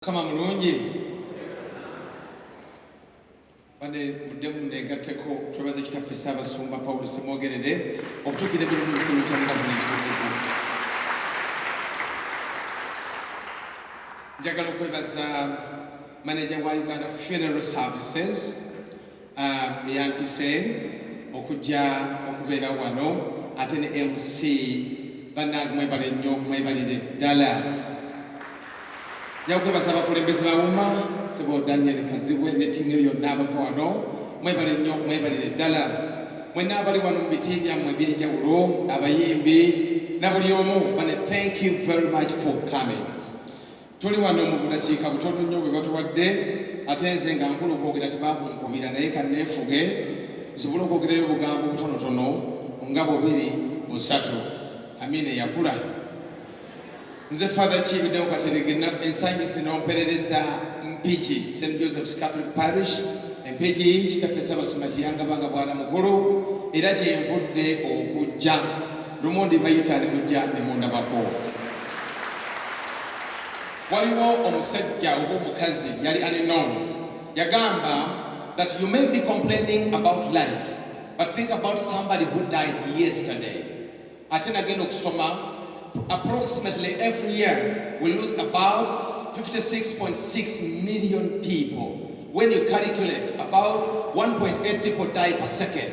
Mukama mulungi bane muddemu negatteko twebaze kitaffe ssaabasumba pawulo simwogerere okutuukira ebiri mu kitabo kya gavumenti tukuvu njagala okwebaza maneja wa uganda funeral services uh, eyampise okujja okubeera wano ate ne mc bannange mwebale nnyo mwebalire ddala nyakwebaza abakulembeze bawuma sebo daniel kazibwe ne tiimu yo yonna abava wano mwebale nnyo mwebalire ddala mwenna abali wano mu biti byammwe ebyenjawulo abayimbi na buli omu bane thank you very much for coming tuli wano mu budakiika butono nnyo bwe batuwadde ate nze nga nkulu okwogera tebakunkubira naye kanneefuge nsobole okwogerayo obugambo butonotono nga bubiri busatu amiina eyakula nze father kibidewo katerege ensangi zino mperereza mpigi st josephs catholic parish empigi kitaffe sabasoma kiyangabanga bwana mukulu era gyenvudde okujja Lumondi bayita ne mujja ne mundabako. Waliwo omusajja oba omukazi yali alinow yagamba that you may be complaining about life but think about somebody who died yesterday. Ate nagenda okusoma approximately every year we lose about 56.6 million people when you calculate about 1.8 people die per second.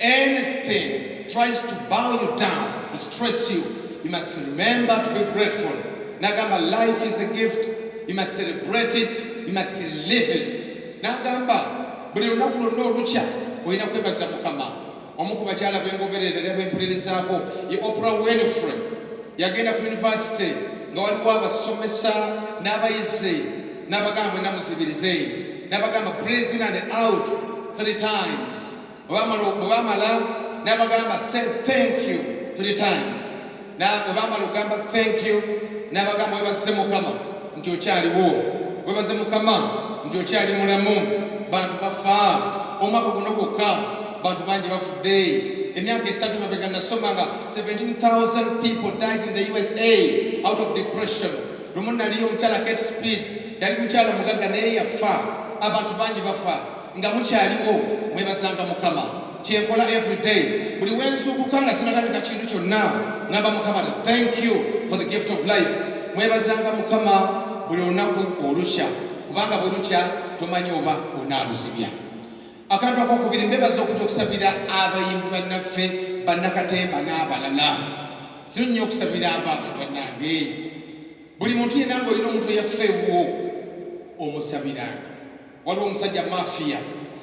Anything tries to bow you down, distress you, you must remember to be grateful. Nagamba life is a gift, you must celebrate it, you must live it. Nagamba buli lunaku lwonna olukya olina kwebaza Mukama. Omu ku bakyala bengoberera era bempulirizaako ye Oprah Winfrey yagenda ku yunivasite nga waliwo abasomesa n'abayizi n'abagamba bwenna muzibirize n'abagamba breathe in and out three times bwebamala nabagamba say thank you three times bwebamala okugamba thank you nabagamba webaze mukama nti okyaliwo webaze mukama nti okyali mulamu bantu bafa omwaka guno gwokka bantu bangi bafudde emyaka esatu mabega nasoma nga 17000 people died in the usa out of depression lumu naliyo omukyala kate speed yali mukyala mugagga naye yafa abantu bangi bafa nga mukyaliwo mwebazanga mukama kyenkola everyday buli wenzuukuka nga sinalabika kintu kyonna ngamba mukama thank you for the gift of life mwebazanga mukama buli olunaku olukya kubanga bwelukya tomanyi oba onaaluzibya akantu akokubiri mbebaza okuja okusabira abayimbi bannaffe bannakatemba n'abalala kino nnyo okusabira abaafu bannange buli muntu yenanga olina omuntu eyaffe ewuwo omusabiranga waliwo omusajja mafia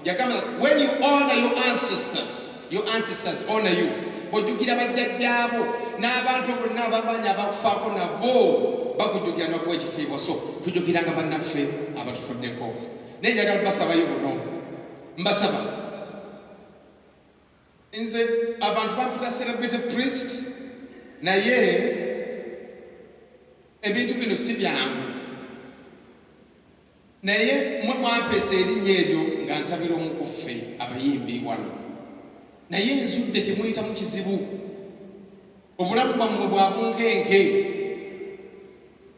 yagamba when you honor your ancestors your ancestors honor you ojjukira bajjajjaabo n'abantu bonna abamanyi abakufaako nabo bakujjukira nokuwa ekitiibwa so tujjukiranga bannaffe abatufuddeko naye njagala basabayo buno mbasaba Nze abantu bampita celebrity priest naye ebintu bino si byangu naye mwe mwampesa erinnya eryo nga nsabira omukuffe abayimbi wano naye nzudde temuyitamu kizibu obulamu bwammwe bwabunkenke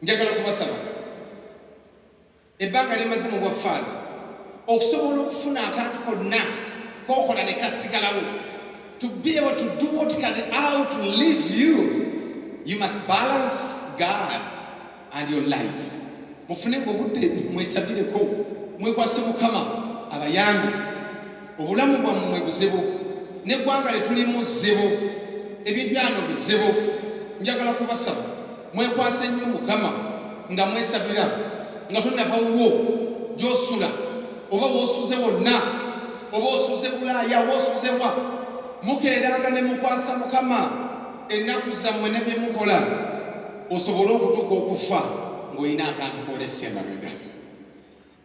njagala kubasaba Ebbanga lyemaze mu bwa faaza okusobola okufuna akantu konna kokola ne kasigalawo to be able to do what can out live you you must balance God and your life mufune obudde mwesabireko mwekwase mukama abayambi obulamu bwammwe buzibu neggwanga lyetulimu zibu ebintu byano bizibu njagala kubasaba mwekwasa ennyo mukama nga mwesabira nga tonava wuwo gyosula oba wosuze wonna oba osuze bulaaya oba osuzewa mukeeranga ne mukwasa mukama ennaku zammwe ne bye mukola osobole okutuuka okufa ng'olina akantu kolesa emabega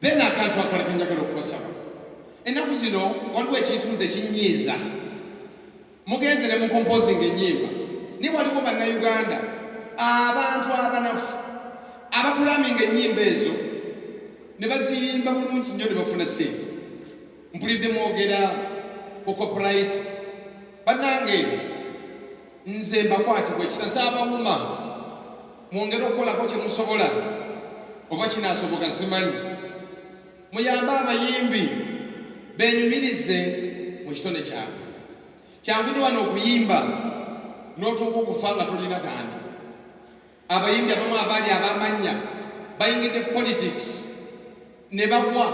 Then akantu akola kenjagala okubasaba ennaku zino waliwo ekintu nze kinyiiza mugenze ne mukompozinga ennyimba naye waliwo bannayuganda abantu abanafu abakulaminga ennyimba ezo ne baziyimba bulungi nnyo ne bafuna sente mpulidde mwogera ku copyright bannange nze mbakwatibwa ekisa nsaabawuma Mwongere okukolako kye musobola oba kinaasoboka simanyi. Muyambe abayimbi benyumirize mu kitone kyabwe. Kyangu nyo wano okuyimba n'otuuka okufa nga tolina kantu. Abayimbi abamu abaali abamannya bayingidde politics. ne bagwa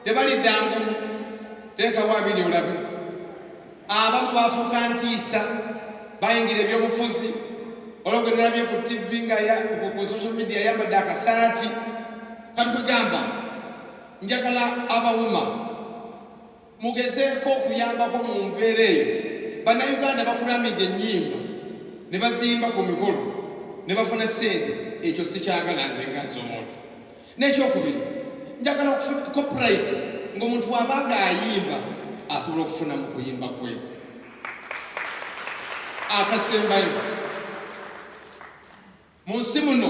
tebaliddangu teekawo abiri olabe abamu baafuuka ntiisa bayingira ebyobufuzi olwogwe nalabye ku tv nga ku social media yambadde akasaati kati kwegamba njagala abawuma mugezeeko okuyambako mu mbeera eyo bannayuganda bakulamidde ennyimba ne bazimba ku mikolo ne bafuna ssente ekyo sikyagala nze nga nze omuntu n'ekyokubiri njagala okufuna copyrite ng'omuntu waba nga ayimba asobola okufuna mu kuyimba kwe akasembayo mu nsi muno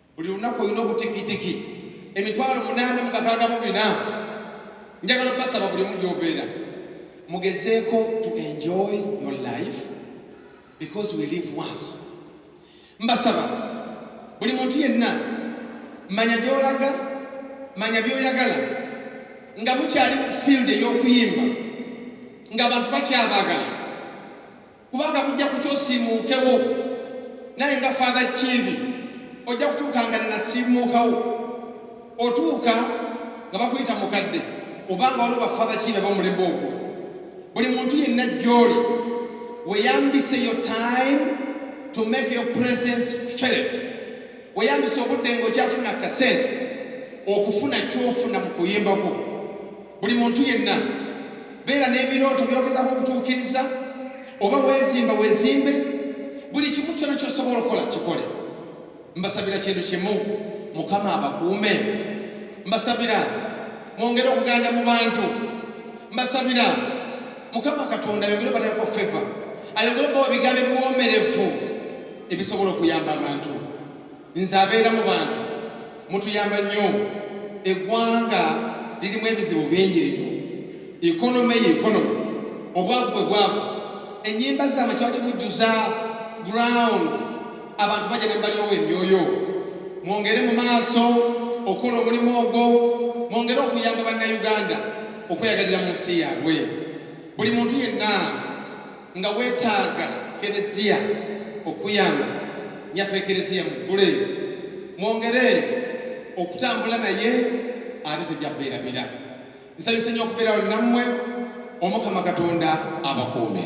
buli lunaku olina obutikitiki emitwalo munaana mukakanga mu bina njagala okubasaba buli omu gyobeera mugezeeko to enjoy your life because we live once mbasaba buli muntu yenna manya gyolaga manya byoyagala nga mukyali mu field ey'okuyimba ng'abantu bakyabaagala kubanga bujja kutya osiimuukewo naye nga faatha kiibi ojja kutuuka nga nasiimuukawo otuuka nga bakuyita mukadde obanga waliwo bafaatha kiibi abamulembe ogwo buli muntu yenna gyoli weyambise yo time to make your presence felt weyambise obudde nga okyafuna kasente okufuna kyofuna mu kuyimbako buli muntu yenna beera n'ebirooto byogezako okutuukiriza oba weezimba weezimbe buli kimu kyona kyosobola okukola kikole mbasabira kintu kimu mukama abakuume mbasabira mwongere okuganda mu bantu mbasabira mukama katonda ayongere obateekako feva ayongere obawa bigambo ebiwomerevu ebisobola okuyamba abantu nze abeera mu bantu mutuyamba nnyo eggwanga lirimu ebizibu bingi lino ekonome ye ekonome obwavu bwe bwavu enyimba zaama kiba kibujjuza grounds abantu bajja ne balyowo emyoyo mwongere mu maaso okukola omulimu ogwo mwongere okuyamba bannayuganda okweyagalira mu nsi yaabwe buli muntu yenna nga weetaaga kereziya okuyamba nyaffe kereziya muggule mwongere okutambula naye ate tejjakubeerabira nsanyusa nnyo okubeerawo nammwe omukama katonda abakuume